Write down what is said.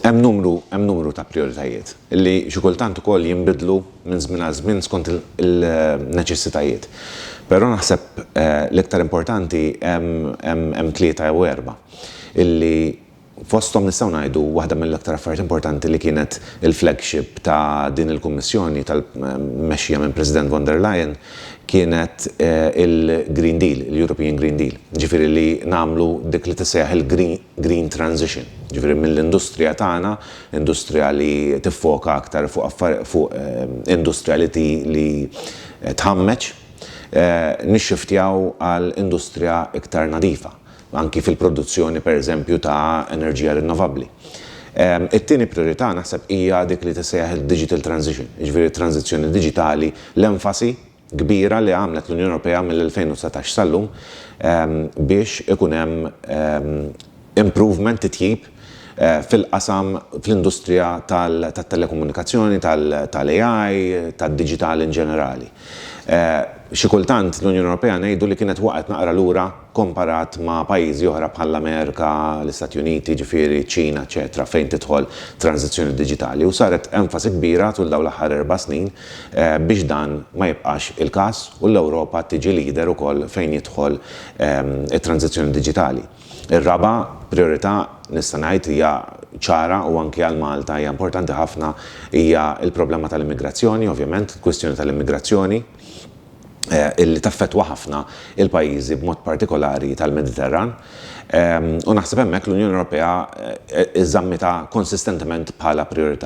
Hemm numru hemm numru ta' prijoritajiet li xi kultant ukoll jinbidlu minn żmien għal żmien skont il-neċessitajiet. Però naħseb l-iktar importanti hemm hemm hemm tlieta jew erba' illi fosthom nistgħu ngħidu waħda mill-aktar affarijiet importanti li kienet il-flagship ta' din il-Kummissjoni tal mmexxija minn President von der Leyen kienet il-Green Deal, il-European Green Deal. Jiġifieri li nagħmlu dik li tissejjaħ il-Green green transition, jiġifieri mill-industrija tagħna, industrija li tiffoka aktar fuq industrija li tħammeġ, nixxiftjaw għal industrija iktar nadifa, anki fil-produzzjoni pereżempju ta' enerġija rinnovabbli. It-tieni prijorità naħseb hija dik li tissejjaħ id-digital transition, jiġifieri t-tranżizzjoni diġitali, l-enfasi kbira li għamlet l-Unjoni Ewropea mill-2019 sal-lum biex ikun hemm improvement, titjib, fil-qasam, fl-industrija tat-telekomunikazzjoni, tal-AI, tad-diġital in ġenerali. Xi kultant l-Unjoni Ewropea ngħidu li kienet waqgħet naqra lura komparat ma' pajjiżi oħra bħall-Amerika, l-Istati Uniti, jiġifieri ċ-Ċina, eċċetera, fejn tidħol tranżizzjoni diġitali, u saret enfasi kbira tul dawn l-aħħar erba' snin biex dan ma jibqax il-każ u l-Ewropa tiġi leader ukoll fejn jidħol it-tranżizzjoni diġitali. Ir-raba' prijorità nista' ngħid hija ċara u anki għal Malta hija importanti ħafna hija l-problema tal-immigrazzjoni, ovvjament, il-kwistjoni tal-immigrazzjoni. li taffettwa ħafna l-pajjiżi b'mod partikolari tal-Mediterran u naħseb hemmhekk l-Unjoni Ewropea żammitha konsistentement bħala prijorità.